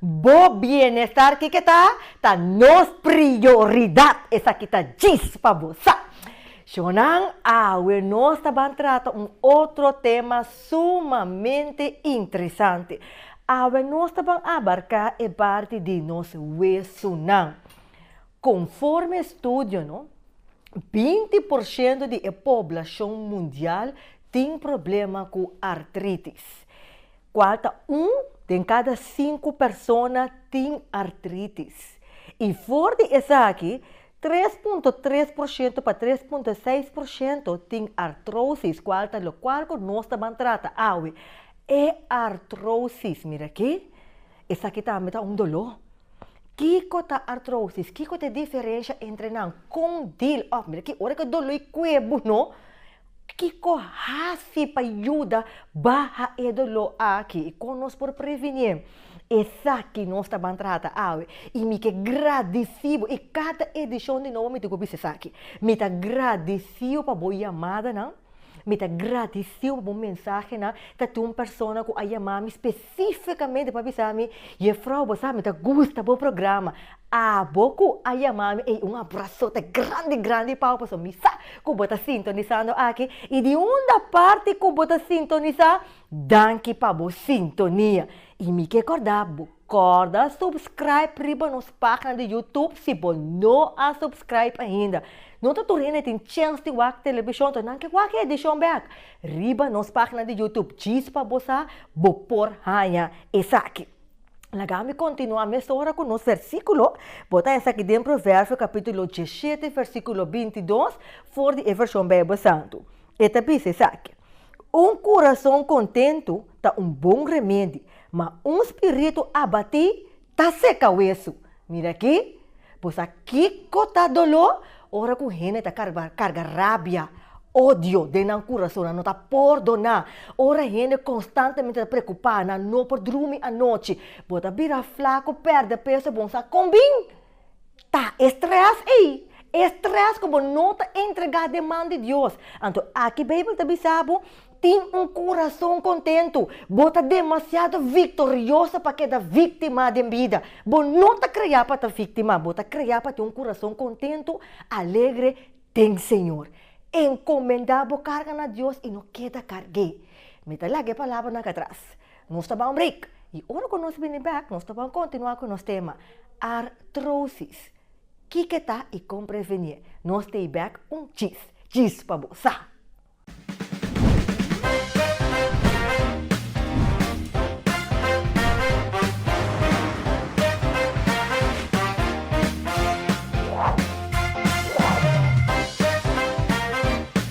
Bo bienestar kiko ta? Ta nos prioridad, esaki ta djis pa bo sa. Shonnan, awe nos ta ban trata un otro tema sumamente interesante. Awe nos ta ban abarca e parti di nos wesunnan. Conforme estudio no, binti por shento di e poblacion mundial tin problema cu artritis. Kual ta un den kada sinku persona tin artritis, i for di esaki, tres punto tres por shento pa tres punto seis por shento tin artrosis, kual ta lokual ku nos ta ban trata awe. E artrosis, mira aki, esaki tambe ta un doló. Kiko ta artrosis? Kiko ta e diferensha entre nan? Kon dil òf, mira aki, ora ku e doló i kue bo, no? Kiko hasi pa yuda baha e doló aki i kon nos por prevenié esaki nos ta ban trata awe? I mi ke gradisí bo, i kada edishon di nobo mi ta ku bisa esaki. Mi ta gradisí bo pa bo yamadanan, mi ta gradisí bo pa bo mensahenan, ta tin un persona ku a yama mi spe. Spesifikamente pa bisa mi, Yefrouw, bo sa mi ta gusta bo programa. Abo ku a yama mi ei un abrasote grandi grandi pao pasobra mi sa ku bo ta sintonisando aki i di unda parti ku bo ta sintonisá, danki pa bo sintonia. I mi ke kòrda bo kòrda supskraip riba nos página di Youtube si bo no a supskraip ainda. No ta tur hende tin chèns di wak telebishon, to nan ke wak e edishon bèk. Riba nos pagina di Youtube Chispa Bosa bo por haña esaki. Laga mi kontinuá mesora ku nos versíkulo. Bota esaki den Proverbio kapítulo diesshete versíkulo binti i dos for di e vershon Beibel Santu. E ta bisa esaki, Un kurason kontentu ta un bon remedi, ma un spiritu abatí Ta seka wesu. Mira aki, bo sa kiko ta doló ora ku hende ta karga rabia, odio den nan kurasonnan, no ta por doná, ora hende konstantemente ta preokupá, nan no por drumi anochi, bo ta bira flaku, pèrdè peso, bon sa kon bin? Ta e strès ei, e strès ku bo no ta entregá den man di Dios. Anto aki Beibel ta bisa bo, Tin un kurason kontentu. Bo ta demasiado viktorioso pa keda víktima den bida. Bo no ta kreá pa ta víktima, bo ta kreá pa tin un kurason kontentu, alegre den Señor. Enkomendá bo karga na Dios i no keda karg'é. Mi ta laga e palabranan akí atras. Nos ta ban break y ora cu nos bini back nos ta ban continua cu nos tema Artrosis, kico ta y con prevenie. Nos stay back un chis, chis pa bo sa!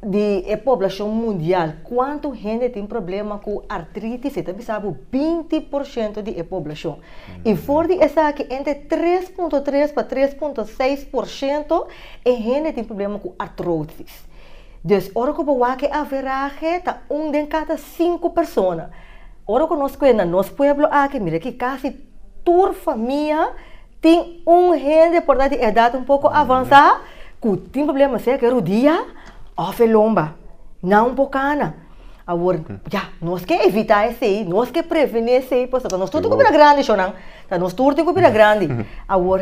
di e poblacion mundial, cuanto hende tin problema cu artritis, e ta bisa bo 20 por ciento di e poblacion. Mm. Y for di esaki, entre 3.3 pa 3.6 por ciento e hende tin problema cu artrosis. Dus, ora cu bo wak e averahe, ta un den cada cinco persona. Ora cu nos kwe na nos pueblo aki, mira ki casi tur famia, Tin un hende por ta di edat un poko avansá ku tin problema sea ku e rudia òf e lomba. Nan un por kana. Awor, ya, nos ke evitá esei, nos ke prevené esei pasobra nos tur tin ku bira grandi shornan. Ya nos tur tin ku bira grandi. Awor,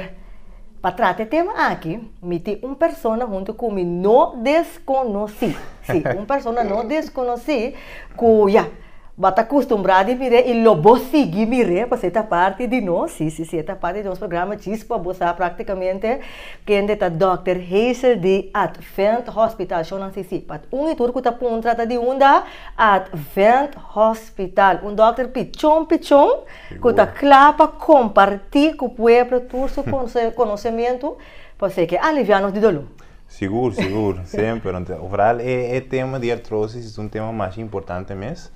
pa trata e tema aki, mi tin un persona huntu ku mi no deskonosí. Sí, un persona no deskonosí ku, ya. Bo ta custumbrá di mir'é i lo bo sigui mir'é pasobra e ta parti di nos. Sí, sí, sí, e ta parti di nos programa Chispa. Bo sa prácticamente kende ta Dòkter Hazel di Advent Hospital? Shon a si sí. But un i tur cu ta puntra ta di unda? Advent Hospital. Un dòkter pichon pichon cu ta cla pa comparti cu pueblo tur su conocemento pasobra e ke aliviá nos di dolor. Sigur, sigur, semper. Want vooral e, e tema di artrosis is un tema masha importante mes.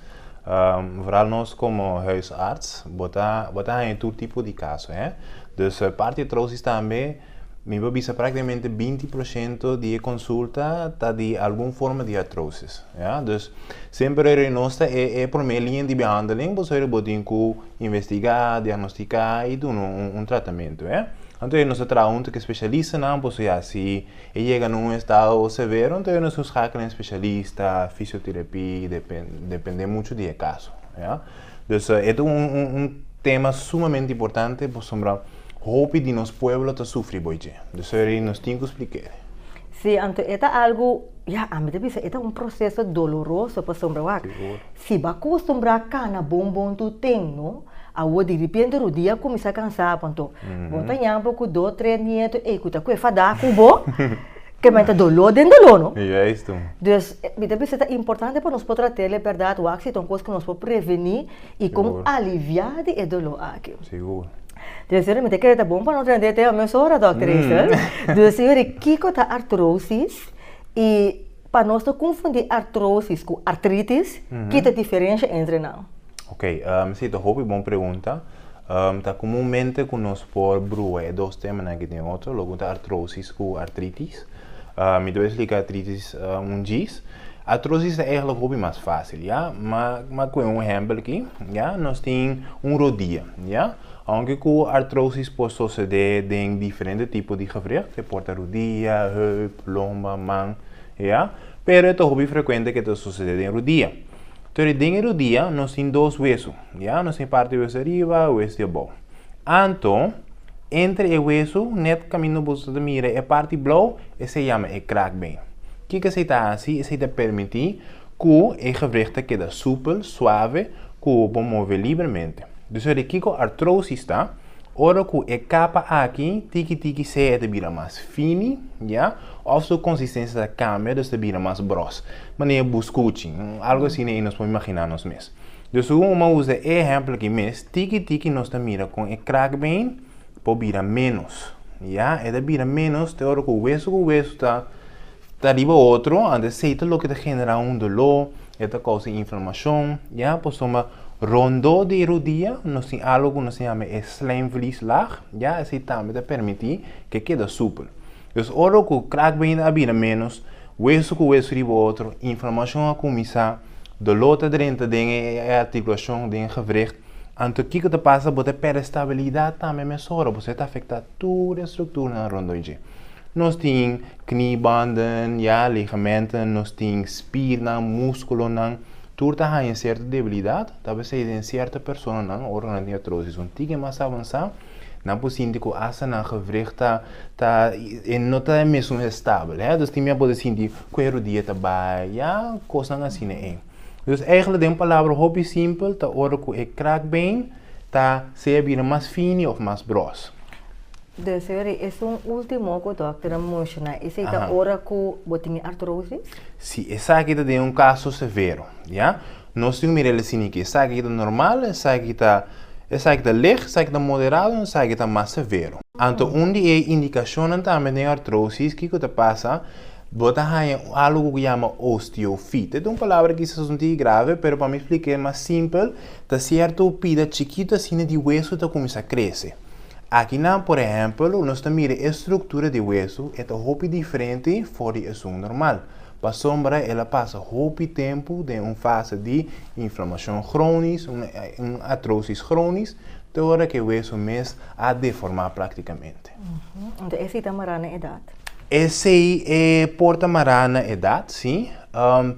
Um, vooral nos como huisarts, bota, bota haya tur tipo di caso, hè. Dus eh, parte artrosis tambe, mi pa bisa prácticamente 20% di e consulta ta di algún forma di artrosis, ja. Dus semper eri nos ta e, e promé línea di behandeling, pasobra bo tin cu investigá, diagnostiká i duna un tratamentu. Anto nos ta traha huntu ku e spesialistanan, pasobra ya si e yega na un estado severo anto nos lo skakla na e spesialista, fisioterapia, depende muchu di e kaso. Dus e ta un tema sumamente importante pasobra. Hopi di nos pueblo ta sufri bo dje. Dusori nos tin cu splicae. Si, anto e ta algo, ya, ami ta bisa e ta un proceso doloroso pasobra wak, si bo a custumbra cana bon bon tu ten, no? Awor diripente Rudy a cuminsa cansa bo, anto bo ta yambo cu dos, tres nieto ey cu ta cu e fada cu bo, ke men ta dolor den dolor, no? Juisto. Dus, mi ta bisa ta importante pa nos por tratel e berdad wak si ta un cos cu nos por preveni. i con alivia di e dolor aki. Sigur. Deci señor, mi ta kere ta bon pa no trende e tema mesora, Dokter Hazel. Deci señor, kiko ta artrosis? I pa nos no confundi artrosis cu artritis, ki ta diferencia entre nan? Ok, si, ta hopi bon pregunta. Ta comunmente cu nos por bruha e dos temanan aki den otro, loke cu ta artrosis cu artritis. Mi ta bisa di cicatrices un djis. Artrosis ta eigenlijk hopi mas fácil, ya. Ma m'a coge un ehempel aki, ya. Nos tin un rodia, ya. Aunke cu artrosis por sucede den diferente tipo di gewricht, e por ta rodia, heup, lomba, man, ya. Pero e ta hopi frecuente cu e ta sucede den rodia. Torí den e rodia nos tin dos wesu, ya. Nos tin e parti wesu di ariba, wesu di abao. Anto, entre e wesu, net kaminda boso ta mira e parti blou, esei yama e kraakbeen. Kiko esei ta hasi? Esei ta permití ku e gewricht ta keda súpel, suave, ku bo move libremente. Dus ora di kiko artrosis ta? Ora ku e kapa aki, tiki tiki sea e ta bira mas fini, ya, òf su konsistensia ta kambia, dus ta bira mas bros. Manera bu skuchi, algu asina ei nos por imaginá nos mes. Dor su un ma usa e ehempel aki mes, tiki tiki nos ta mira kon e kraakbeen por bira menos. Ya, e ta bira menos te ora ku weso ku weso ta ta riba otro, anto esei ta loke ta genera un doló, e ta kousa inflamashon, ya. Pasobra rondó di e rodia nos tin algo ku nos a yama e slijmvlieslaag, ya, esei tambe ta permití ku e keda super. Pues ora ku krak bini a bira ménos, wesu ku wesu riba otro, inflamashon a kuminsá, doló ta drenta den e artikulashon, den e gewricht, anto kiko ta pasa? Bo ta pèrdè stabilidat tambe mesora, pasobra e ta afektá tur e strukturnan rondó dje. Nos tin kniebanden, ya, ligamenten, nos tin spirnan, múskulonan, tur ta haña sierto debilidat, ta pesei den sierto personanan ora nan tin atrosis un tiki mas avansá, Nan por sinti ku asta nan gewricht ta ta e no ta e mesun estabel hè. Dus tin mia por ta sinti ku e rodia ta bai, ya, kosnan asina ei. Dus eigentlik den un palabra hopi simpel ta ora ku e krakbeen ta sea bira mas fini òf mas gros. Dus e ora esun último ku dòkter a menshona, esei ta ora ku bo tin e artrosis? Sí, esaki ta den un kaso severo, ya. Nos tin cu mira el e sinichi, esaki ki ta normal, esaki ki ta esaki ta lej, esaki ta moderado, en esaki ta mas severo. Anto un di e indicacionnan tambe den artrosis kico ta pasa, bo ta haya algo cu yama osteofiet. E ta un palabra kisas un tiki grave, pero pa mi splicae mas simpel, ta cierto pida chikito asina di hueso ta cuminsa crece. Aki nan, por ehempel, nos ta mira e structura di hueso, e ta hopi diferente for di esun normal. Pasobra el a pasa hopi tempu den un fase di inflamashon kronis, un atrosis kronis, te ora ku e weso mes a deformá praktikamente. Enton esei ta mará na edat? Esei e por ta mará na edat, sí.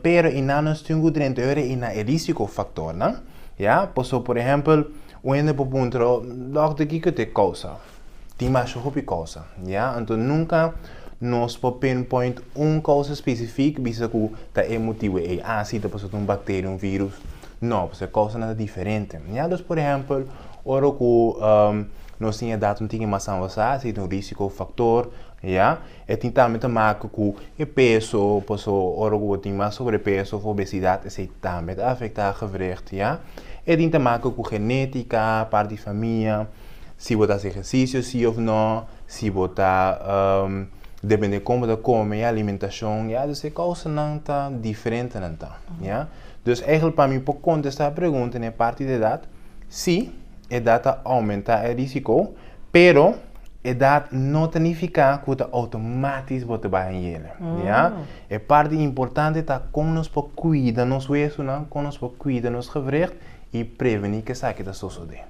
Pero i nan nos tin ku drenta e ora i na e risikofaktornan, ya. Pasobra, por ehèmpel, un hende por puntra bo, Dòkter, kiko ta e kousa? Tin masha hopi cosa, ya. Anto nunca nos por pinpoint un causa specific bisa cu ta e motibo ey aci ta pasobra ta un bacteria, un virus. No, pasobra e causanan ta diferente, ya. Dus, por ehempel, ora cu nos tin e edad un tigi mas avansa, si ta un risico factor, ya. E tin tambe ta maka cu e peso, pasobra ora cu bo tin mas sobrepeso of obesidad esey tambe ta afecta gewricht, ya. E tin ta maka cu genetica, parti famia. Si bo ta hasi ehersisio si of no, si bo ta depende kon bo ta kome, e alimentashon, ya dus e kousanan ta diferentenan ta, ya. Dus eigentlik pa mi pa kontestá e pregunta na e parti di edat, si, edat ta oumentá e risiko, pero edat no ta nifiká ku ta outomátis bo ta bai añere, ya. E parti importante ta kon nos por kuida nos wesunan, kon nos por kuida nos gewricht. i prevení ku esaki ta sosodé.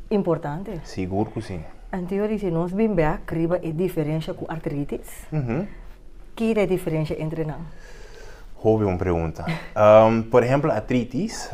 Importante. Sigur ku sí. Antiori si nos bin bèk riba e diferensha ku artritis, ki ta e diferensha entre nan? Hopi bon pregunta. Por ehèmpel artritis,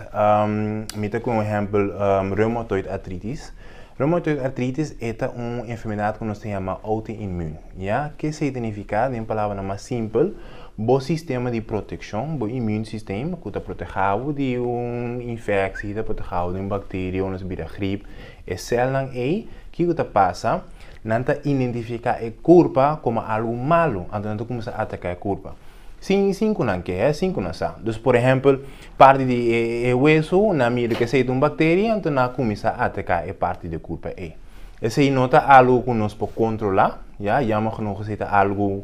mi ta kuen un ehèmpel reumatoid artritis. Reumatoid artritis e ta un enfermedat ku nos ta yama outoinmun. Ya ke sa ta nifiká den palabranan mas simpel, bo sistema di protekshon, bo immune system, ku ta protehábo di un infeksie, ta protehábo di un bakteria ora nos bira grip, e sèlnan ei, kiko ta pasa? Nan ta identifiká e kurpa komo algu malu, anto nan ta kuminsá ataká e kurpa, sin sin ku nan ke, sin ku nan sa. Dus, por ehèmpel, Parti di e hueso na mira cu esey ta un bacteria, enton na cuminsa ataca e parti di e culpa ey. Esey no ta algo cu nos por controla, ya, jammer genoeg esey ta algo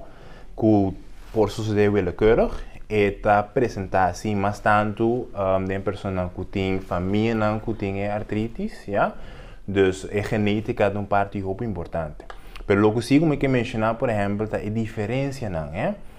cu por sucede willekeurig. E ta presenta así mas tanto den personanan cu tin famianan cu tin e artritis, ya. Dus e genetica ta un parti hopi importante. Pero loke si, como e ke menciona, por ehempel, ta e diferencianan, he.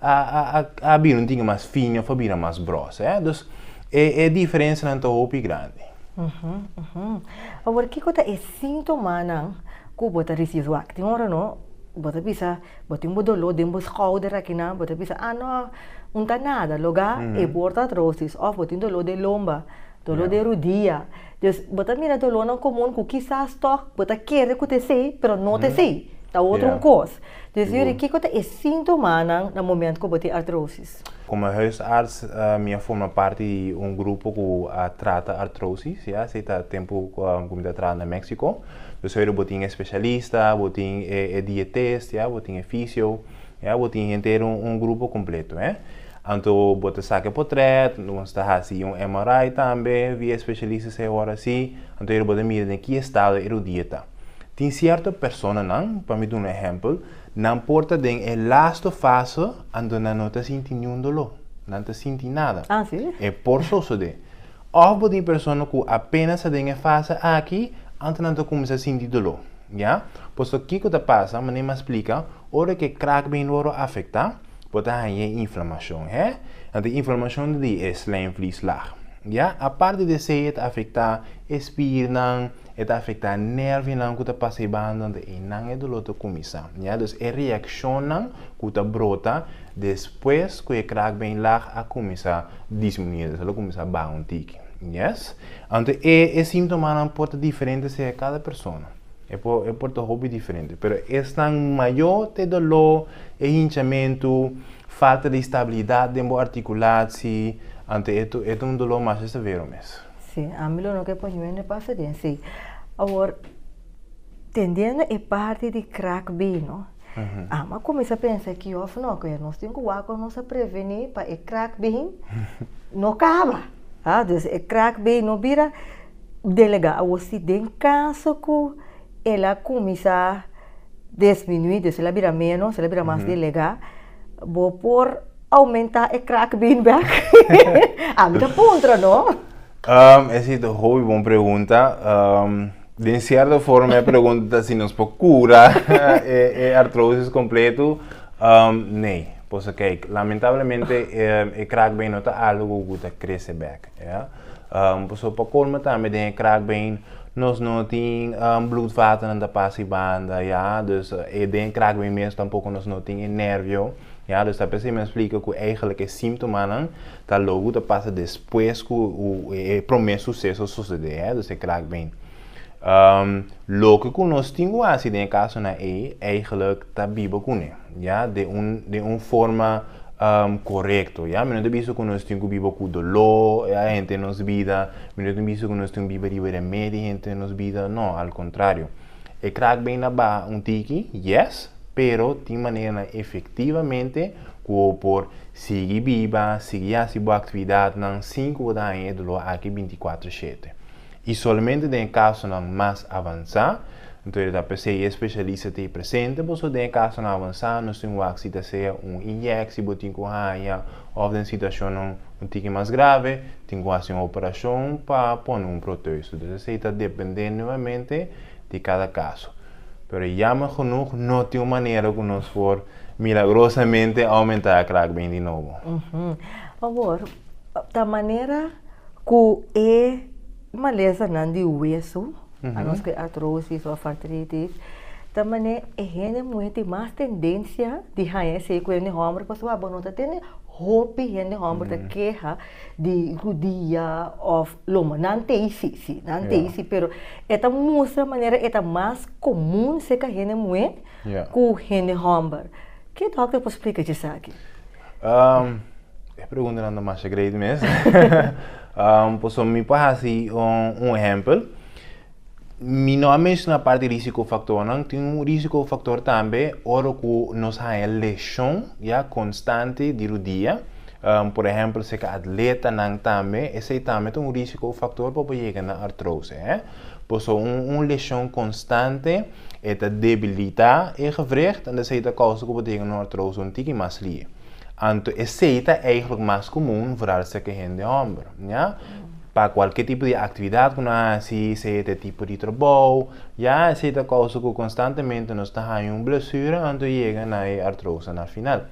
A a a a bira un tingui mas fino of a bira mas grosso, eh. Dus e e diferensanan ta hopi grandi. Uhum, uhum. Awor kiko ta e sintomanan ku bo ta risibi? Wak, tin ora no bo ta bisa bo tin bo doló den bo skouder aki nan, bo ta bisa, ah no, un ta nada, loga e bor ta atrosis, òf bo tin doló den lomba. Doló den rudia. Djus, bo ta mira dolónan komun ku kisas tòg bo ta kere ku ta esei, pero no ta esei. Ta otro un kos. Djus yuri, kiko ta e síntomanan na momentu ku bo tin artrosis? Komo hùisàrts, mi a forma parti di un grupo ku a trata artrosis, ya. Esei ta tempu ku mi ta traha na Méksiko. Djus yuri bo tin e spesialista, bo tin e dietist, ya, bo tin e fisio, ya, bo tin henter un grupo kompleto, hè. Anto bo ta sake potret, nos ta hasi un MRI tambe via e specialista sa e hora si, anto ere bo ta mira den ki estado e rodia ta. Tin cierto personanan, pa mi duna ehempel, nan por ta den e lasto fase anto nan no ta sinti niun dolo, nan ta sinti nada. Ah si? E por sosode. Of bo tin persona cu apenas ta den e fase aki anto nan ta cuminsa sinti dolo. Ya? Pasobra kico ta pasa, manera mi a splica, ora cu e kraak been lo a afecta, Bo ta haña e inflamashon, hè? Anto e inflamashon ta di e slijmvlieslag, ya. Aparte di esei e ta afektá e spirnan, e ta afektá nèrvinan ku ta pasa e banda, anto einan e doló ta kuminsá, ya. Dus e reakshonnan ku ta brota despues ku e kraakbeenlaag a kuminsá disminuye, dus el a kuminsá baha un tiki, yes. Anto e e símtomanan por ta diferente seha kada persona. E por, e por ta hopi diferente, pero esnan mayó t'e doló, e hinchamentu, falta di stabilidat den bo artikulatsí, anto e ta, e ta un doló masha severo mes. Sí, ami lo no ke por yuende pasa den sí. Awor, tendiendo e parti di krak bino, ami a kuminsá pensa ki òf no, ke nos tin ku wak ku nos a prevení pa e krak bin no kaba. Ha, dus e krak bin no bira. Delegá a wos di den kaso ku el a kuminsá desminuí, dus el a bira ménos, el a bira mas delegá, bo por oumentá e krak bini bèk? Ami ta puntra, no? Es i ta hopi bon pregunta. Den sierto forma e pregunta ta si nos por kura e artrosis kompletu. Nei. Pasobra kei, lamentablemente e krak bini no ta algu ku ta krese bèk. Ya. Pasobra pa colma tambe den e kraakbeen nos no tin bloedvaternan ta pasa e banda ya, dus den e kraakbeen mes tampoco nos no tin e nervio ya, dus ta p'esei mi a splica cu eigenlijk e simtomanan ta logu ta pasa despues cu e prome suceso sucede ya, dus e kraakbeen. Loke cu nos tin cu hasi den e casonan ei, eigenlijk ta biba cune. ya, den un, den un forma um, korekto, ya. Mi no ta bisa ku nos tin ku biba ku doló, ya, e hende den nos bida, mi no ta bisa ku nos tin ku biba riba den medio di hende den nos bida, no, al kontrario. E krak bin na baha un tiki, yes, pero tin maneranan efektivamente ku bo por sigui biba, sigui hasi bo aktividatnan sin ku bo ta haña e doló aki binti kuatru shete. I solamente den e kasonan mas avansá, anto e ta p'esei e spesialista ta ei presente bo. So den e kasonan avansá nos tin waksi, ta sea un inyèkshi bo tin ku haña òf den situashonnan un tiki mas grave tin ku hasi un operashon pa pone un proteus. Entonces esei ta dependé nuevamente di kada kaso. Pero yammer genoeg no tin un manera ku nos por milagrosamente aumentá e krakbeen di nobo. Pabor, ta manera? ku e malesanan di wesu, a nos ke artrosis òf artritis, ta manera e hende muhé tin mas tendensia di haña esei ku hende hòmber pasobra bo no ta tene hopi hende hòmber ta keha di rudia òf lomba. Nan tei si, si, nan tei si, pero e ta mustra manera e ta mas komun serka hende muhé ku hende hòmber. Ke dòkter por splika di esaki? Um, e pregunta na masha great mes. um, pues so mi pa hasi un, un ejempel. Mi no a menciona parte risiko factor nan, tin un risiko factor tambe oro ku nos haya lesion ya constante di rodilla. Um, por ejempel, se ka atleta nan tambe, ese tambe tin un risiko factor pa pa yega na artrose, eh. Pues so un, un lesion constante E ta debilitá e gewricht en esei ta kousa ku bo ta yega na un artrosis un tiki mas lie. Anto esei ta eigentlik mas komun vooral sèke hende hòmber, ya. Pa kualke tipo di aktividat ku nan hasi, sea ta e tipo di trabou, ya, esei ta kousa ku konstantemente nos ta haña un blesura anto yega na e artrosis na final.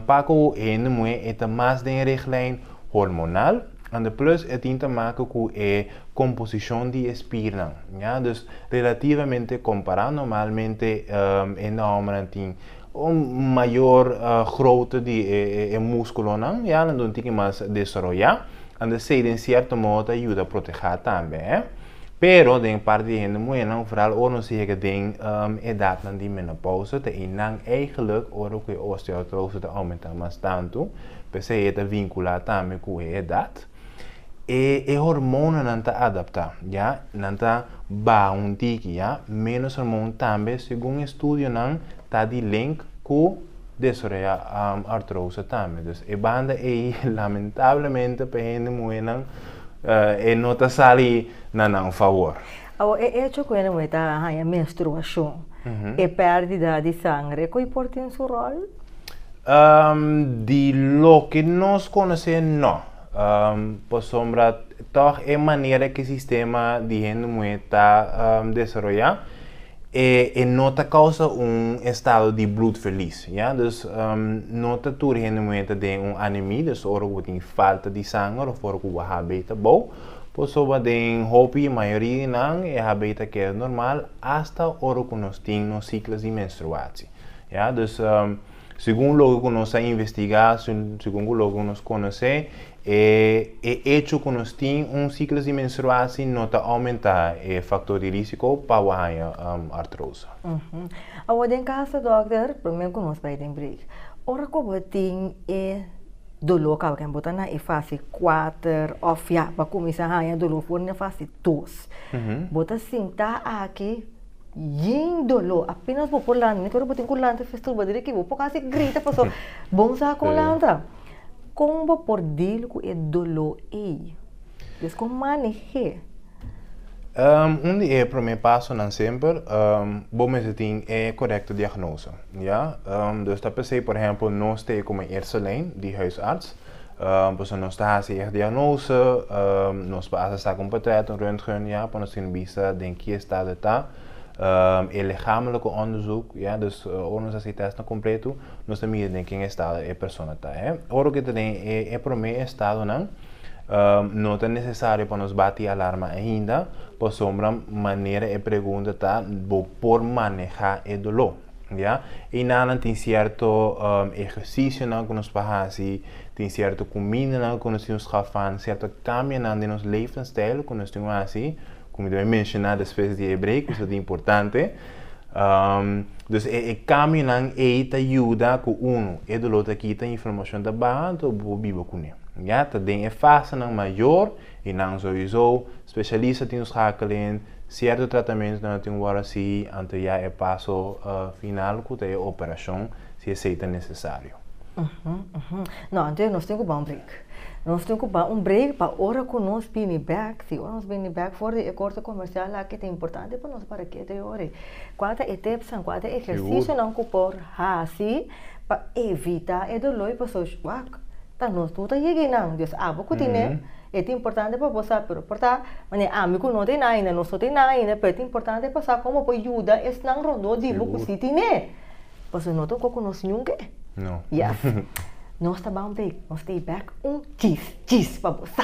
Pako hende muhé e ta mas den e riglijn hormonal. Ande plus e tin ta maka ku e komposishon di e spirnan, ña. Dus relativamente kompará, normalmente e nòmbernan tin un mayor grote di e muskulonan, ya, nan ta un tiki mas desaroyá, ande esei den sierto modo ta yuda protehá tambe, hè. Pero den e parti di e hende muhernan, vooral ora nos yega den edatnan di menopausa, ta einan eigelik ora ku e osteoartrose ta oumentá mas tantu. P'esei e ta vinculá tambe cu e edad. E e hormonanan ta adaptá, ya, nan ta baha un tiki, ya. Menos hormon tambe, segun estudionan, ta di link cu desaroya artrosa tambe. Dus e banda ei, lamentablemente pa hende muhernan, e no ta sali na nan favor. Awa, e hecho cu hende muher ta haña menstruacion, e perdida di sangre, cu ei por tin su rol? Um, di loke nos conoce, no. Um, pasobra toch e manera que sistema di hende muhe ta um, desaroya, e, e no ta causa un estado di bloedverlies, ya. Dus um, no ta tur hende muhe ta den un anemie, dus ora cu bo tin falta di sanger of ora cu bo HB ta bou, pasobra den hopi, mayoria di nan, e HB ta keda normal hasta ora cu nos tin nos ciclos di menstruatie. Ya, dus segun loke ku nos a investigá, segun ku loke ku nos konosé, e e echo ku nos tin un siklo di menstruasi no ta oumentá e faktor di risiko pa bo haña artrosa. Awo den kasa dòkter, promé ku nos bai den break, ora ku bo tin e doló kaba ken bo ta na e fasi kuater òf ya bo a kuminsá haña doló for na e fasi dos, bo ta sinta aki. Yin dolor, apenas bo por lanta, único ora bo tin cu lanta fes turba diri ki bo por casi grita pasobra bon sa con lanta. Con bo por deal cu e dolor ey? Despues con manehe? Un di e prome pasonan semper bo mester tin e corecto diagnosa, ya. Nos ta pensé, por ehempel, nos ta e como Ercelein di huisarts. Pasobra nos ta hasi e diagnose, nos basa sa cu un portret, un röntgen, ya, pa nos tin bista den ki estado e ta. E ligamelijke onderzoek, ya, dus ora nos a hasi e testnan completo, nos ta mira den ken estado e persona ta. Ora cu e ta den e prome estadonan, no ta necesario pa nos bati alarma ainda, pasobra manera e pregunta ta, bo por maneha e dolor. ya. Einanan tin sierto ehercisionan cu nos por haci, tin sierto cumindanan cu nos tin por scafan, sierto cambianan den nos levensstijl cu nos tin por haci, cu mi ta bay menciona despues di e break pasobra ta importante. Dus e cambionan ey ta yuda cu uno, e dolor ta kita, e inflamacion ta baha, anto bo por biba cune, ya. Ta den e fasenan mayor. I nan souiso, specialista tin schakelen, cierto tratamentu ta no tin worda sigui ante ya e paso final cu ta e operacion, si esey ta necesario. No, anto nos tin cu ban un break. Nos tin cu ban un break pa ora cu nos bini bek, si ora nos bini bek for di e corte comercial aki ta importante pa nos para keda yoe. Cua ta e tipsnan, cua ta e ehercicionan cu por haci Pa evita e doló i pasochi wak ta nos tur ta yega einan Dios abo ku tin e e ta importante pa bo sa pero por ta mane ami ku no ta einan ainda nos no ta einan ainda pero e ta importante pa sa komo pa yuda esnan rondó di bo ku si tin e pasobra no ta oko konos niun ke yes nos ta ban bay nos ta bay bek un chis chis pa bo sa.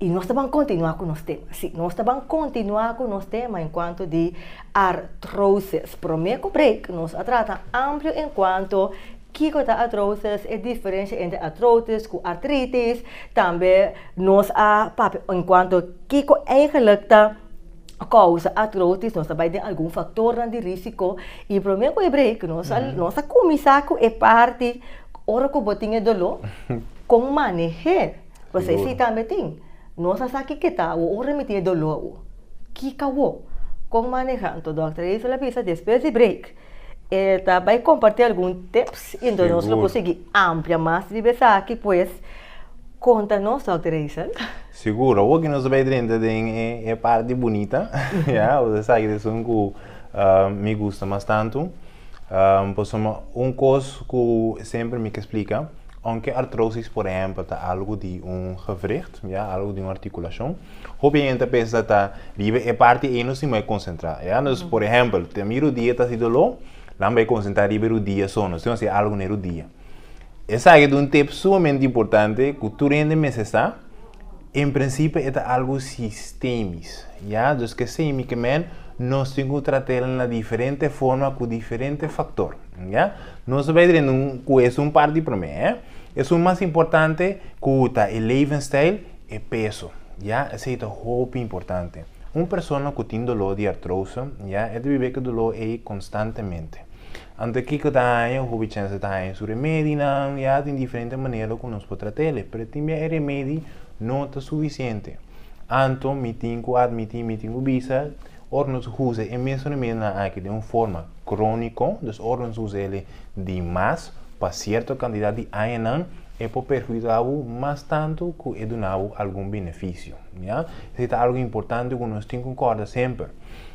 Y nos ta ban continua cu nos tema. Si, nos ta ban continua cu nos tema en cuanto di artrosis. Prome cu break, nos a trata amplio en cuanto kico ta artrosis, e diferencia entre artrotis cu artritis. Tambe nos a papia en cuanto kico eigenlijk ta causa artrotis. Nos a bai den algun factornan di risico. Y prome cu e break, nos a, nos a cuminsa cu e parti ora cu bo tin e dolor, con manehe. Pues e si tambe tin. Nos a sa kiko ta awo un remití e doló awo. Kiko awo? Kon maneha? Anto Dòkter Hazel a bisa despues di break e ta bai kompartí algun tips i anto nos lo por sigui amplia mas riba esaki pues. Konta nos Dòkter Hazel. Sigur, awo ki nos ta bai drenta den e parti bunita, ya, esaki ta esun ku mi gusta mas tantu. Pasobra un kos ku semper mi ke splika, ounke artrosis por ehèmpel ta algu di un gewricht, ya, algu di un artikulashon, hopi hende ta pensa ta riba e parti ei nos tin bai konsentrá, ya. Entonces, por ehèmpel, te mira rudia ta hasi doló, nan bai konsentrá riba e rudia so, nos tin hasi algu na e rudia. Esaki ta un tip sumamente importante ku tur hende mester sa. En prinsipio e ta algo sistemis, ya, dus keseimikimen nos tin ku tratel na diferente forma ku diferente faktor, ya. Nos ta bai dren un ku esun parti promé, eh. Esun mas importante ku ta e levensstijl, e peso, ya, esei ta hopi importante. Un persona ku tin doló di artroso, ya, e ta biba ku doló ei konstantemente. Anto kiko ta haña? Un hobichense ta haña su remedinan, ya tin diferente manera ku nos por trat'e, pero tin bia e remedi no ta sufisiente. Anto mi tin ku admití, mi tin ku bisa, ora nos usa e mes remedinan aki den un forma króniko, dus ora nos usa el di mas pa sierto kantidat di añanan, e por perhudiká bo mas tantu ku e duna bo algun benefisio. Ya, esei ta algu importante ku nos tin ku kòrda semper.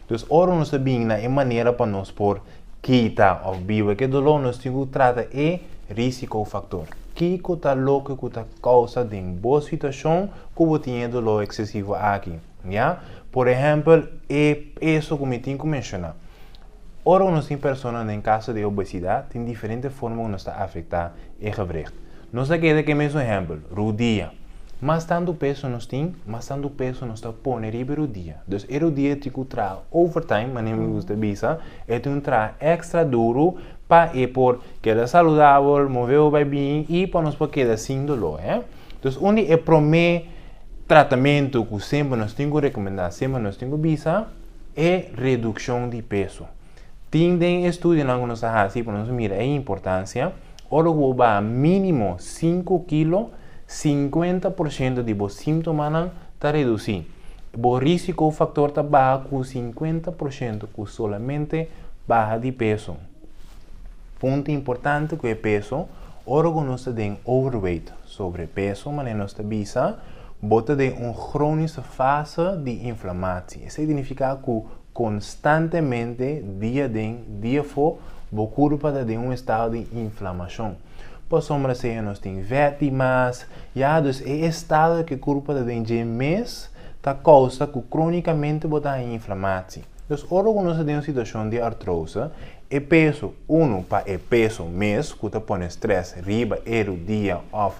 Dus ora nos ta bini na e manera pa nos por Kita òf biba ke doló nos tin ku trata e risikofaktor. Kiko ta loke ku ta kousa den bo situashon ku bo tin e doló eksesivo aki? Ya, por ehèmpel, e peso ku mi tin ku menshoná. Ora ku nos tin personanan den kaso di obesidat, tin diferente forma ku nos ta afektá e gevregt. Nos ta keda ke mesun ehèmpel, rudia. Mas tantu peso nos tin, mas tantu peso nos ta pone riba e rudia. Dus e rudia tin ku traha overtime, manera mi gusta bisa, e tin un traha èkstra duru pa e por keda saludabel, moveba bai bien i pa nos por keda sin doló. Dus un di e promé tratamentu ku semper nos tin ku rekomendá, semper nos tin ku bisa, e redukshon di peso. Tin den e estudionan ku nos a hasi pa nos mira e importansia, ora ku bo baha mínimo sinku kilo, sinkuenta por shento di bo símtomanan ta redusí. Bo rísiko faktor ta baha ku sinkuenta por shento ku solamente baha di peso. Punto importante cu e peso, ora cu nos ta den overweight, sobrepeso, manera nos ta bisa, bo ta den un chronische fase di inflamatie. Esey significa cu constantemente, dia den, dia fo, bo curpa ta den un estado di inflamacion. Pasobra sea nos tin veti mas, ya dus e estado cu e curpa ta den dje mes ta causa cu cronicamente bo ta haña inflamatie. Dus ora cu nos ta den un situacion di artrose, E peso, unu pa e peso mes ku ta pone strès riba e rudia òf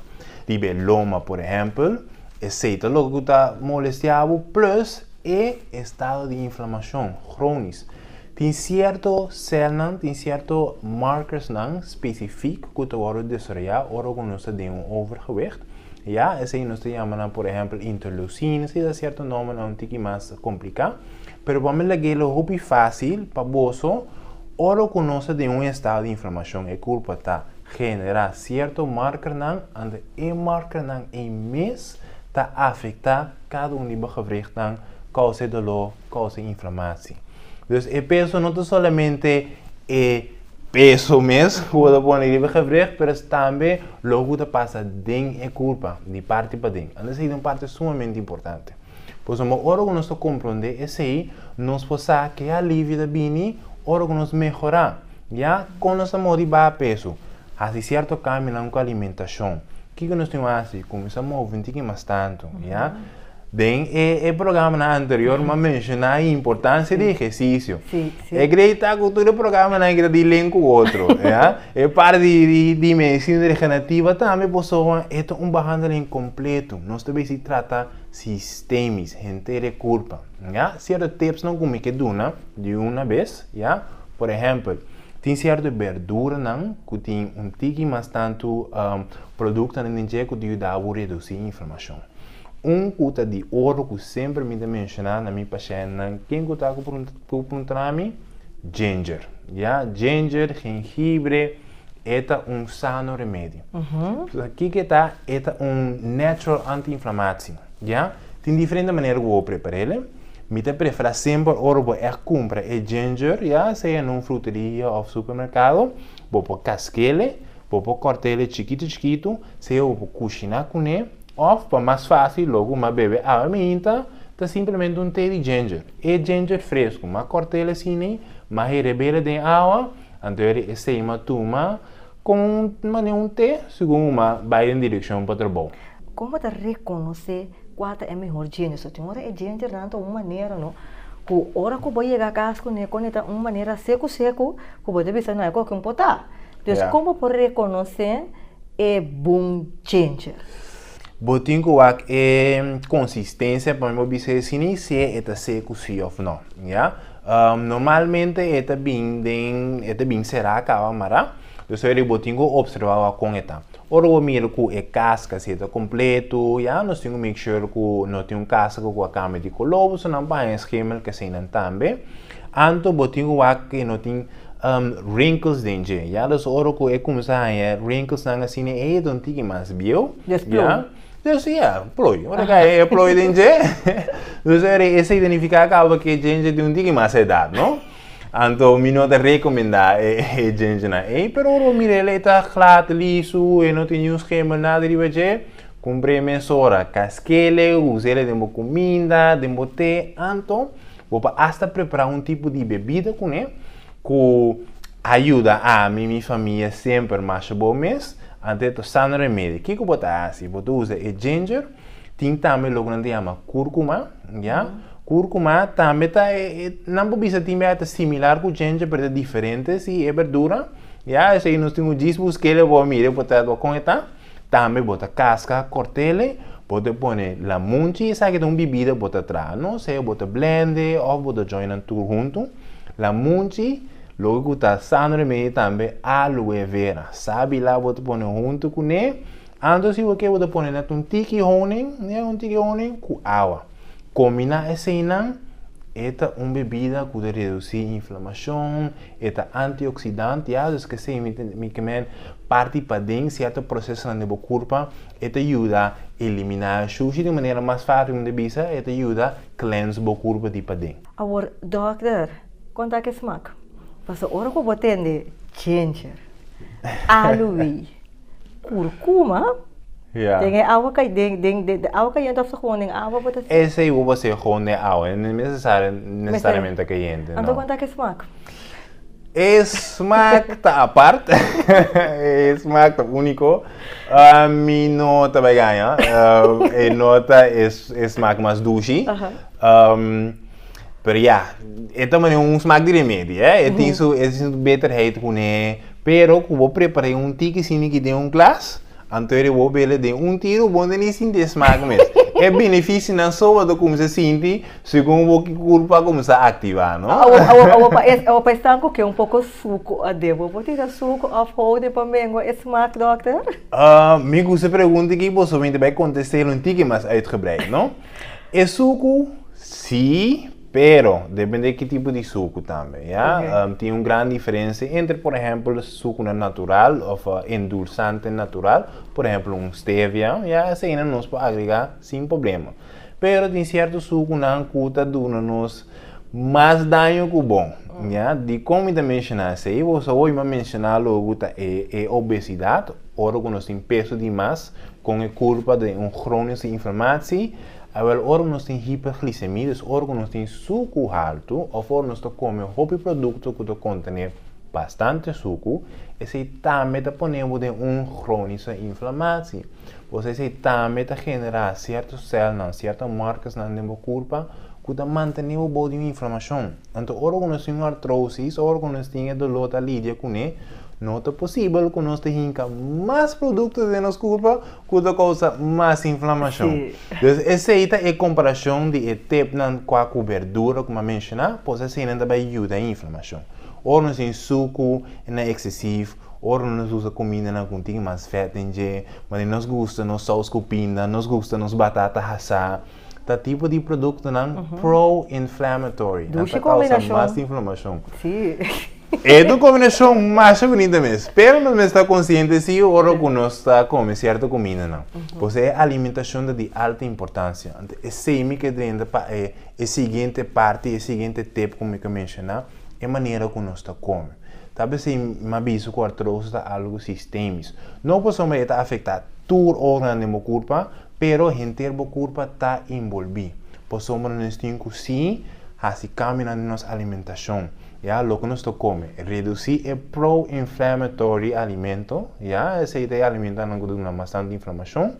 riba e loma por ehèmpel, esei ta loke ku ta molestiá bo plus e estado di inflamashon kronis. Tin sierto sèlnan, tin sierto markersnan spesifik ku ta wòrdu desaroyá ora ku nos ta den un overgewicht, ya, esei nos ta yama nan por ehèmpel interleucines i ta sierto nòmbernan un tiki mas kompliká. Pero bo me laga elo hopi fácil pa boso, ora ku nos ta den un estado di inflamashon e kulpa ta generá sierto markernan ande e markernan ei mes ta afektá kada un di bo gewrichtnan, kousa e doló, kousa e inflamasi. Dus e peso no ta solamente e peso mes ku bo ta pone riba e gewricht pero es tambe loke ku ta pasa den e kulpa di parti paden, ande esei ta un parti sumamente importante. Pues amo ora ku nos ta komprondé esei, nos por sa ku e alivio ta bini ora ku nos mehorá. Ya kon nos ta move di baha peso? Hasi sierto kambionan ku alimentashon. Kiko nos tin ku hasi? Kuminsá move un tiki mas tantu, ya. Den e programanan anterior mi a menshoná e importansia di ehersisio. E krei ta ku tur e programanan aki ta di len ku otro, ya. E par di medisina regenerativa tambe, pasobra e ta un behandeling kompleto. Nos ta bisí trata. Sistemis, henter e kurpa, ya. Sierto tipsnan ku mi ke duna di una bes, ya. Por ehèmpel, tin sierto berduranan ku tin un tiki mas tantu produktonan den dje ku ta yuda bo redusí inflamashon. Un ku ta di oro ku semper mi ta menshoná na mi pashèntnan, ken ku ta ku prunta. Cu puntra mi? Ginger, ya. Ginger, jengibre, e ta un sano remedio. Sa kico ta? E ta un natural anti-inflamatie, ya. Tin diferente manera cu bo prepara el, eh. Mi ta prefera semper ora bo ect cumpra e ginger, ya sea na un fruteria of supermercado, bo por casca el, eh. Bo por kòrt'e chikitu chikitu, sea bo por kushiná kuné òf, pa mas fásil lògu m'a bebe awa miinta, ta simplemente un té di ginger. E ginger fresku, m'a kòrt'e asina, m'a hereb'e den awa, anto e esei m'a tuma komo un manera un té, segun bo m'a bai den direkshon pa trabou. Kon bo ta rekonosé kual ta e mihor ginger? So tin ora e gingernan ta un manera no, ku ora ku bo yega kas kuné, konita un manera seku seku, ku bo ta bisa no hay koke un potá. Entonces, yeah. como por reconocer e boom changer? Bo tin ku wak e consistencia pa mi bo bise si ni si e ta se ku si of no. Ya? Um, normalmente e ta bin den e ta bin será kaba mará. Dus eri bo tin ku observa wak kon e ta. Oro bo mira ku e casca si e ta completo, ya? Nos tin ku make sure ku no tin un casca ku a cambia di color, bo su nan pa haña schemel ke sei nan tambe. Anto bo tin ku wak ke no tin wrinkles den dje ya dus ora ku e kuminsá haña wrinkles nan a sini ey ta un tiki mas bieu ya des ya ploi ora ku a haña e ploi den dje dus ora e esta identifiká kaba ku e djendje tin un tiki mas edat no anto mi no ta rekomendá e djendje nan ey pero ora bo mira el e ta glat lisu e no tin niun schema nada riba dje kumpr'é mesora kaskele us'é den bo kuminda den bo te anto. Bo por hasta prepara un tipo di bebida kuné ku a yuda ami, mi famia semper masha bo mes, anteto sano remedio. Kiko bo ta hasi? Bo ta usa e ginger, tin tambe loke nan ta yama kurkuma, ya. Kurkuma tambe ta e, e, nan por bisa tin bia e ta similar ku ginger pero ta diferente si e berdura, ya. Esei nos tin un djis buskele bo a mira e por ta kon e ta. Tambe bo ta kaska kortele, bo ta pone lamunchi, esaki ta un bibida bo ta traha, no sea bo ta blende of bo ta joinnan tur huntu, lamunchi, loke ku ta sano remedio tambe aloe vera, sabila bo ta pone huntu kuné, anto si bo ke bo ta pone nèt un tiki honing, nèt un tiki honing ku awa, kombiná eseinan e ta un bebida ku ta redusi inflamashon, E ta antioksidanti, hazus ke seimikement parti paden sierto prosesonan den bo kurpa, e ta yuda eliminá shushi di manera mas fásil un ta bisa, e ta yuda cleanse bo kurpa di paden. Awor dòkter, kon ta ke smak? Pasobra ora ku bo tende ginger, aluwei, Kurkuma? Ya. Den e awa kai den den de awa kayente of gewoon den awa bo ta E sei bo se gewoon den awa, e no necesari necesariamente kayente. Anto konta ke smak? E smak ta apart, e smak ta uniko. Mi no ta bai gaña, e no ta e smak mas dushi. Pero ya, e ta manera un smak di remedi, eh. E tin su, e tin su beterheid kuné. Pero ku bo prepar'é un tiki simi ki den un glas, anto e bo bele den un tiro bo no ni sinti e smak mes. E benefisionan so bo ta kumsa sinti segun bo ki kurpu a kumsa aktivá, no? Awo pa e, awo pa esnan ku ke un poko suku aden, bo por tira suku òf houde pa mengua e smak, dòkter? mi gusta e pregunta aki, boso minte bai kontest'é un tiki mas uitgebreid, no? E suku, sí, pero depende ki tipo di suku tambe, ya. Oké. Tin un gran diferensia entre, por ehempel, sukunan natural of endulsante natural, por ehempel un stevia, ya, eseinan nos por agregá sin problema. Pero tin sierto sukunan ku ta duna nos mas daño ku bon, ya. Dikon mi ta menshoná esei? Bo sa wak mi a menshoná logu ta e, e obesidat, ora ku nos tin peso di mas. Con e culpa den un gronios di inflamatie, awel ora nos tin hiperglicemia, dus ora cu nos tin sucu haltu of ora nos ta come hopi producto cu ta contene bastante sucu, esey tambe ta pone bo den un gronische inflamatie. Boso esey tambe ta genera cierto celnan, cierto markersnan den bo culpa, ku ta mantene bo bou di un inflamashon. Anto ora ku nos tin un artrousis ora ku nos tin e doló ta lidia kuné, no ta posibel ku nos ta hinka mas produkto den nos kurpa ku ta kousa mas inflamashon. Pues esei ta e komparashon di e tepnan kua ku berdura ku mi a menshoná, pues eseinan ta bai yuda e inflamashon. Ora nos tin suku na eksesiv, ora nos usa kumindanan ku tin mas fèt den dje, mane nos gusta nos sous ku pinda, nos gusta nos batata hasá, ta tipo di produktonan pro-inflammatory. Nan ta kousa mas inflamashon. Si. E ta un kombinashon masha bunita mes. Pero nos mes ta konsiente si ora ku nos ta kome sierto kumindanan. Por eso e alimentashon ta di alta importansia. Anto esei mi ke drenta pa e siguiente parti, e siguiente tip ku mi ta menshoná, e manera ku nos ta kome. Tal bes si mi a bisa ku artrosis ta algu sistemish. No pasobra e ta afektá tur organ den bo kurpa. Pero henter bo curpa ta inbolbi. Pasobra nos tin cu si haci cambio na nos alimentacion, ya, loke nos ta come, reduci e pro-inflammatory alimento, ya, esey ta e alimentonan cu duna bastante inflamacion,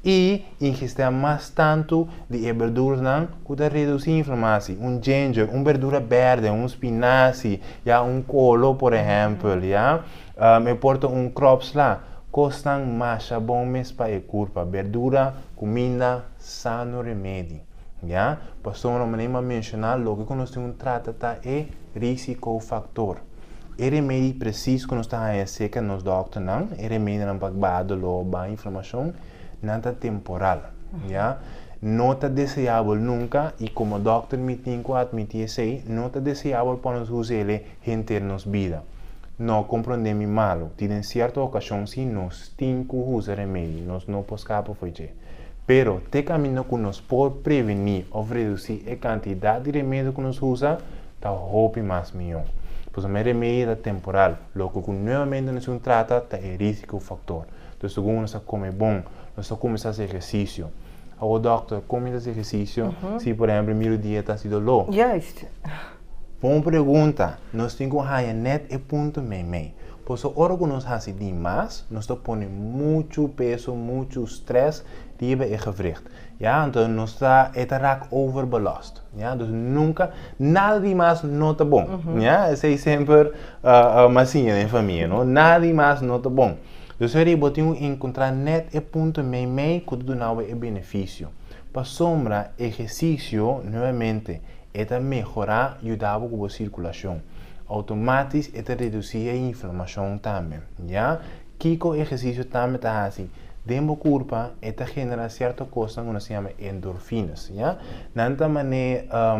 y ingestea mas tanto di e berduranan cu ta reduci inflamaci, un ginger, un berdura berde, un spinaci, ya, un colo, por ehempel, ya. Me porta un crops la. Cosnan masha bon mes pa e curpa. Berdura, cuminda, sano remedi. Ya. Pasobra un manera mi a menciona loke cu nos tin un trata ta e risico factor. E remedi precies cu nos ta haya cerca nos doctornan, e remedinan pa baha dolor, baha inflamacion, nan ta temporal. Ya. No ta deseable nunca y como doctor mi tin cu admiti esey, no ta deseable pa nos usa el'e henter nos bida. No comprende mi malo. Tin den cierto ocasion si nos tin cu usa remedi, nos no por scapa fo'i dje. Pero, te camino cu nos por preveni of reduci e cantidad di remedio cu nos usa ta hopi mas miho. Pasobra e remedi ta temporal, loke cu nuevamente nos tin trata ta e risico factor. Entonces, segun nos a come bon, nos ta cuminsa haci ehercicio. Awo, doctor, con mi ta haci ehercicio si, por ehemplo, e miro dieta si dolo? Juist. Bon pregunta! Nos tin cu haña net e punto meimei. Pasobra ora cu nos haci di mas, nos ta pone muchu peso, muchu stress riba e gewricht. Ya, enton nos ta, e ta raak overbelast. Ya, dus nunca, nada di mas no ta bon. Ya, esey semper mi a siña den famia, no? Nada di mas no ta bon. Dus esey bo tin cu encontra net e punto meimei cu ta duna bo e beneficio. Pasobra ehercicio, nuevamente. E ta mehorá yuda bo ku bo sirkulashon. Outomátis e ta redusí e inflamashon tambe. Ya kiko ehersisio tambe ta hasi? Den bo kurpa e ta generá sierto kosnan ku nos ta yama endorfinas, ya. Nan ta manera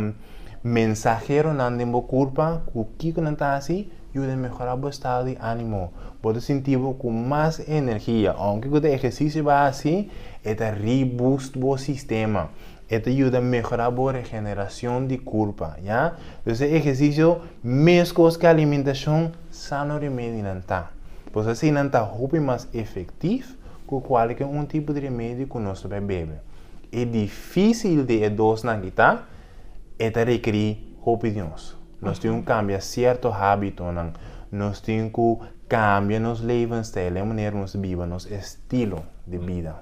mensaheronan den bo kurpa ku kiko nan ta hasi yuda mehorá bo estado di ánimo. Bo ta sinti bo ku mas energia. Ounke ku ta ehersisio bo a hasi, e ta reboost bo sistema. E ta yuda mehorá bo regenerashon di kurpa, ya. Dus e ehersisio meskos ku e alimentacion sano remedi nan ta. Pues así nan ta hopi mas efektif ku kualke un tipo di remedi ku nos ta bai bebe. E dificil di e dosnan aki ta, e ta rekerí hopi di nos. Nos tin ku kambia sierto hábitonan, nos tin ku kambia nos levensstijl, e manera nos biba, nos estilo di bida.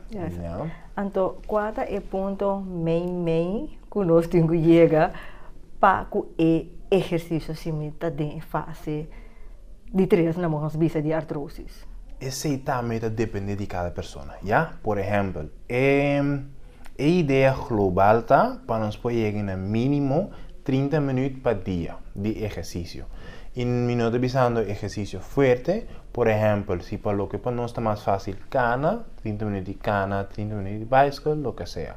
Anto kua ta e punto mei mei ku nos tin ku yega pa ku e ehersisio simi ta den e fase di tres na mos bisa di artrosis? Esei tambe ta depende di kada persona, ya. Por ehèmpel, e e idea global ta pa nos por yega na minimo trinta minüt pa dia di ehersisio. I mi no ta bisando ehersisio fuerte, por ehèmpel si pa loke pa nos ta mas fásil kana, tin ta manera di cana, tin ta manera di bicycle, loke sea.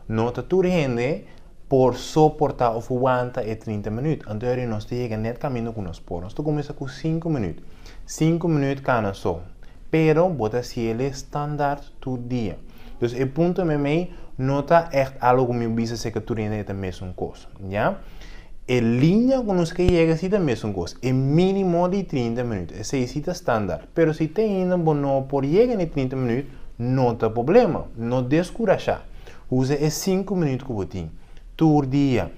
No ta tur hende por soporta of wanta e trinta minuut. Anto heri nos ta yega net caminda cu nos por. Nos ta cuminsa cu cinco minuut. Cinco minuut cana so. Pero bo ta haci el'e standaard tur dia. Dus e punto mei mei no ta echt algo cu mi bisa seca tur hende e ta mesun cos. Ya. E liña ku nos ke yega si ta mesun kos, e mínimo di trinta minüt. Esei si ta standaard. Pero si te ainda bo no por yega na e trinta minüt, no ta poblema. No deskurashá. Usa e sinku minüt ku bo tin tur dia.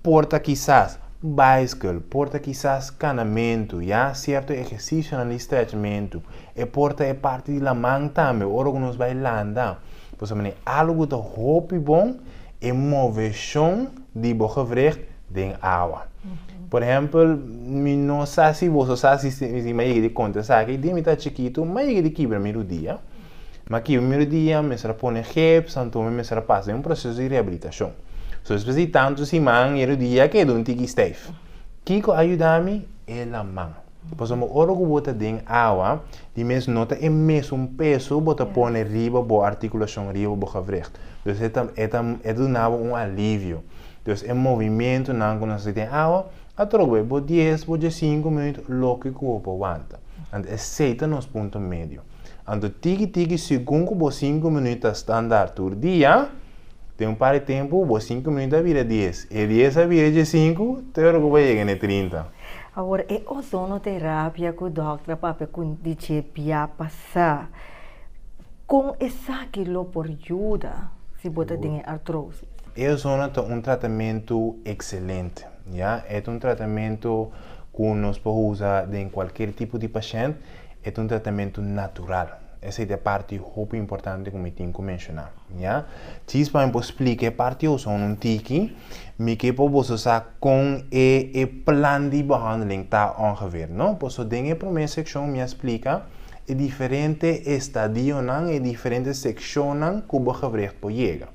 Por ta kisas baiskël, por ta kisas kanamentu, ya sierto ehersisionan di strechementu. E por ta e parti di laman tambe, ora ku nos bai landa. Pasobra algu ku ta hopi bon, e moveshon di bo gewricht den awa. Por ehempel, mi no sa si boso sa si mi a yega di konta esaki, di mi ta chikitu mi a yega di kibra mi rudia, mi a kibra mi rudia, mi mester a pone geps, anto mi mester a pasa den un proseso di rehabilitashon. So despues di tantu siman e rudia a keda un tiki steif. Kiko a yuda mi? E laman. Pasobra ora ku bo ta den awa, di mes no ta e mesun peso bo ta pone riba bo artikulashon, riba bo gewricht. Dus e ta e ta e ta duna bo un alivio. Dus e movimentunan ku nos hasi den awa, a troko bai bo dies, bo djesinku minuut, loke ku bo por wanta. Anto esei ta nos punto medio. Anto tiki tiki segun ku bo sinku minuut ta standaard tur dia, den un par di tempu bo sinku minuut a bira dies, e dies a bira djesinku, tero ku bo a yega na e trinta. Awor e ozonoterapia ku dòkter a papia ku di dje bia pasá, kon esaki lo por yuda si bo ta den e artrosis? E ozono ta un tratamentu ekselente, ya. E ta un tratamentu ku nos por usa den kualker tipo di pashènt E ta un tratamentu natural. Esei ta e parti hopi importante ku mi tin ku menshoná. Ya. Tjis pa mi por splika e parti hopi so un tiki. Mi ke por boso sa kon e e plan di behandeling ta ongeveer, no? Paso den e promé sekshon mi a splika e diferente estadionan, e diferente sekshonnan ku bo gebregt por yega.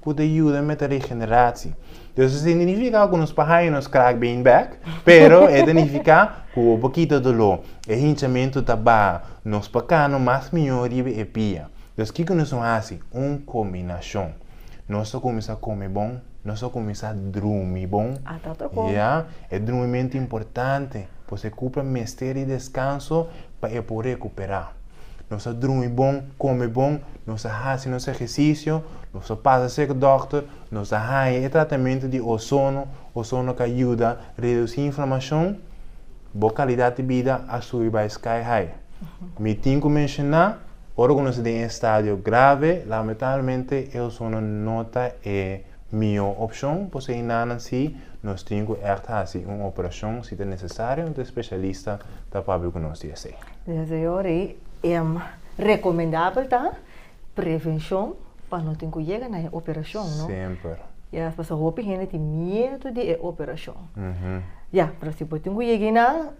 ku ta yuda met a regenerasi. Entonces eso tin di nifiká ku nos por haña nos krak been bèk, pero e ta nifiká ku bo por kita doló, e hinchamentu ta baha, nos por kano mas mihó riba e pia. Entonces kiko nos lo hasi? Un kombinashon. Nos ta kuminsá kome bon, nos ta kuminsá drumi bon, ya, e drumimentu importante, pasobra e kupra mester di deskanso pa e por rekuperá. Nos a drumi bon, kome bon, nos a hasi nos ehersisio, nos a pasa sek dòkter, nos a haña e tratamentu di ozono, ozono ka yuda redusí inflamashon, bo kalidat di bida a subi bai sky high. Mi tin ku menshoná, ora ku nos ta den e stadio grave, lamentablmente e ozono no ta e mihó opshon, por esei nanan si nos tin ku ègt hasi un operashon si ta nesesario, un spesialista ta papia ku nos di esei. Den su yora ei, e recomendabel ta prevencion pa no tin cu yega na e operacion, no? Semper. Ya, pasobra hopi hende tin miedu di e operacion. Ya, pero si bo tin cu yega eynan,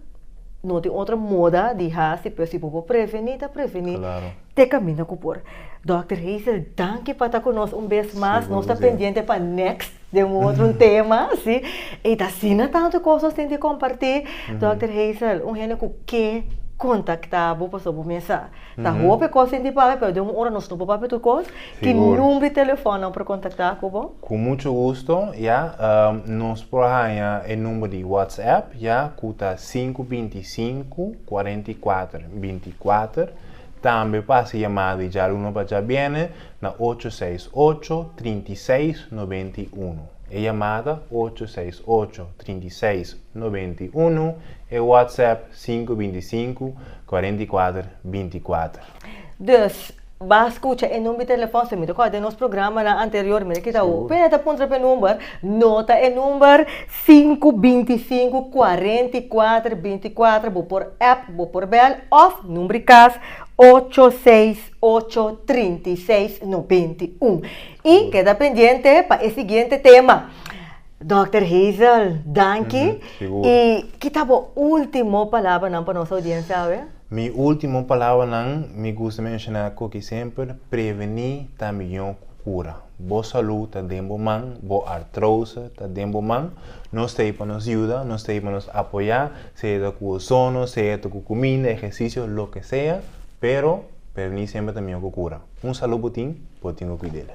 no tin otro moda di hasi, pero si bo por preveni, ta preveni. Claro. te camina cu por. Dokter Hazel danki pa ta cu nos un bes mas, nos ta pendiente pa next den un otro tema, si, y ta asina tanto cos nos tin di comparti, Dokter Hazel un hende cu ke contacta bo pasobra bo mesa sa hopi cos tin di papia pero den un ora nos no por papia tur cos, ki number di telefoon nan por contacta cu bo? Cu mucho gusto, ya, nos por haya e number di WhatsApp, ya, cu ta sinku binti sinku, cuarenta y cuater binti cuater. Tambe pa hasi yamada di djaluno pa djabièrnè na ocho seis ocho, trinta i seis, noventa i unu. E yamada ocho seis ocho, trinta i seis, noventa i unu, e WhatsApp sinku binti i sinku, kuarenta i kuater, binti i kuater. Dus, ba skucha e num di telefòn, si mi rekorda den nos programanan anterior, mi a kita hopi hende a puntra p'e number, nota e number, sinku binti sinku kuarenta i kuater binti kuater bo por app bo por bel of numbri kas ocho seis ocho trinta i seis noventa i un i keda pendiente pa e siguiente tema Dòkter Hazel danki i kita bo ultimo palabranan pa nos oudiensia awe? Mi ultimo palabranan mi gusta menshona koki semper preveni ta mihó ku kura. Bo salú ta den bo man, bo artrose ta den bo man. Nos ta hei pa nos yuda, nos ta hei pa nos apoyá, sea ta ku osono, sea ta ku kuminda, ehersisio, loke sea, pero prevení semper ta mihó ku kura. Un salú bo tin, bo tin ku kuid'é.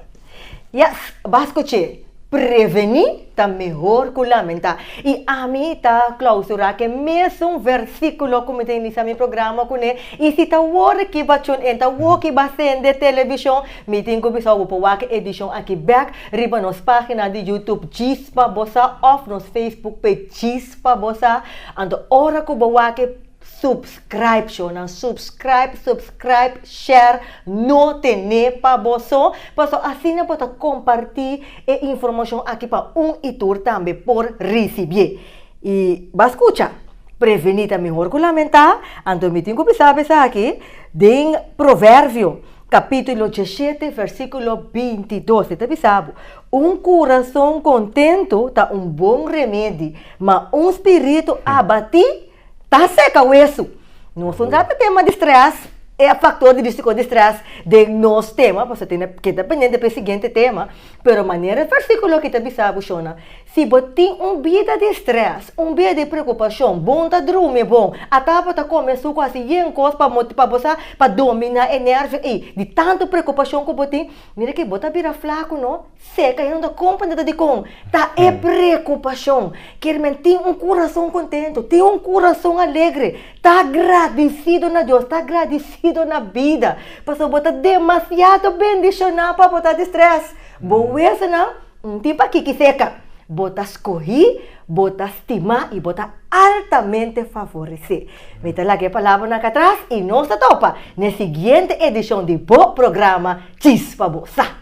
Yes, b'as kuch'é, prevení. Ta mehor ku lamenta. I ami ta klausurá ke mesun versíkulo ku mi ta inisá mi programa kuné, i si ta wòrda ki ba tune in, ta wok i ba sende televishon, mi tin ku bisao bo por wak e edishon aki bèk riba nos página di YouTube Chispa Bosá òf nos Facebook page Chispa Bosá. Anto ora ku bo wak e, subs. Scribe show nan subscribe subscribe share no tene pa boso paso asina bo ta comparti e informacion aki pa un y tur tambe por ricibié y ba scucha preveni ta mihor cu lamenta anto mi tin cu bisa esaki den proverbio capitulo diecisiete versiculo bintidos e ta bisa bo un curason contento ta un bon remedi ma un spirito abati Ta seka wesu. Nos por keda ta tema di stres, e a faktor di bisti kos di stres den nos tema, pasobra tin e, keda pendiente pa e siguiente tema. Pero manera e versíkulo aki ta bisa bo shona, si bo tin un bida di stres, un bida di preokupashon, bon ta drumi bon, ata bo ta komensá ku hasi yen kos pa bo sa, pa dominá e nèrbio ei, di tantu preokupashon ku bo tin. Mira ke bo ta bira flaku no, seka i no ta kom puntada dikon. Ta e preokupashon. Kier men tin un kurason kontentu, tin un kurason alegre. Ta gradisido na Dios, ta gradisido na bida. Pasobra bo ta demasiado bendishoná pa bo ta di strès. Bo wesnan no tin pakiki seka. Bo ta skohí. Bo ta stima i bo ta altamente favoresé. Mi ta laga e palabranan katras i nos ta topa na e siguiente edishon di bo programa Chispa Bo Sa.